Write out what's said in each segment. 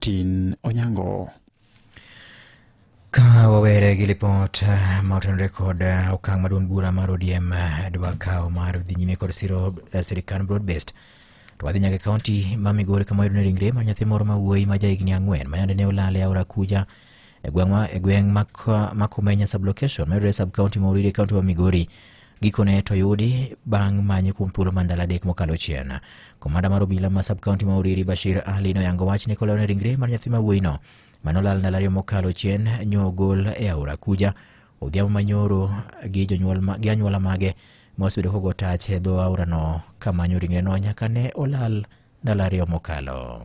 Martin Onyango. Ka wawere gi lipot eh, ma otenore kod eh, okang' maduong' bura mar ODM eh, dwa kawo mar dhi nyime kod siro sirikand broadbased to wadhi nyaka kaunti ma Migori kama yudone ringre mar nyathi moro ma wuoyi ma jahigni ang'wen ma yande ne olal e aora Kuja e gweng' ma e gweng' ma Kumenya sublocation ma yudore sub kaunti ma Oriri kaunti ma Migori Gikone to oyudi bang' manye kuom thuolo ma ndalo adek mokalo chien. Komanda mar obila ma subkaunti ma Uriri Bashir Ali noyango wach ni koleo ni ringre mar nyathi ma wuoyino manolal ndalo ariyo mokalo chien nyogol e aora Kuja odhiambo manyoro gi jonyuol ma- gi anyuola mage ma osebedo kogo tach e dho aorano kamanyo ringreno nyaka ne olal ndalo ariyo mokalo.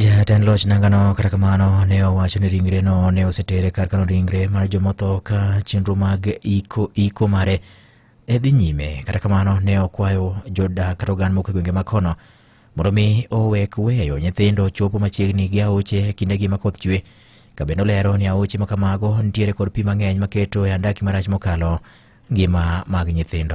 Jatend loch nangano kata kamano ne owacho ni ringreno ne osetere kar kano ringre mar jomotho ka chenro mag iko iko mare e dhi nyime. Kata kamano ne okwayo jodak kata oganda moko e gwenge ma kono mondo mi owek weyo nyithindo chopo machiegni gi aoche e kindegi ma koth chwe. Kabende olero ni aoche ma kamago nitiere kod pi mang'eny maketo e andaki marach mokalo ngima mag nyithindo.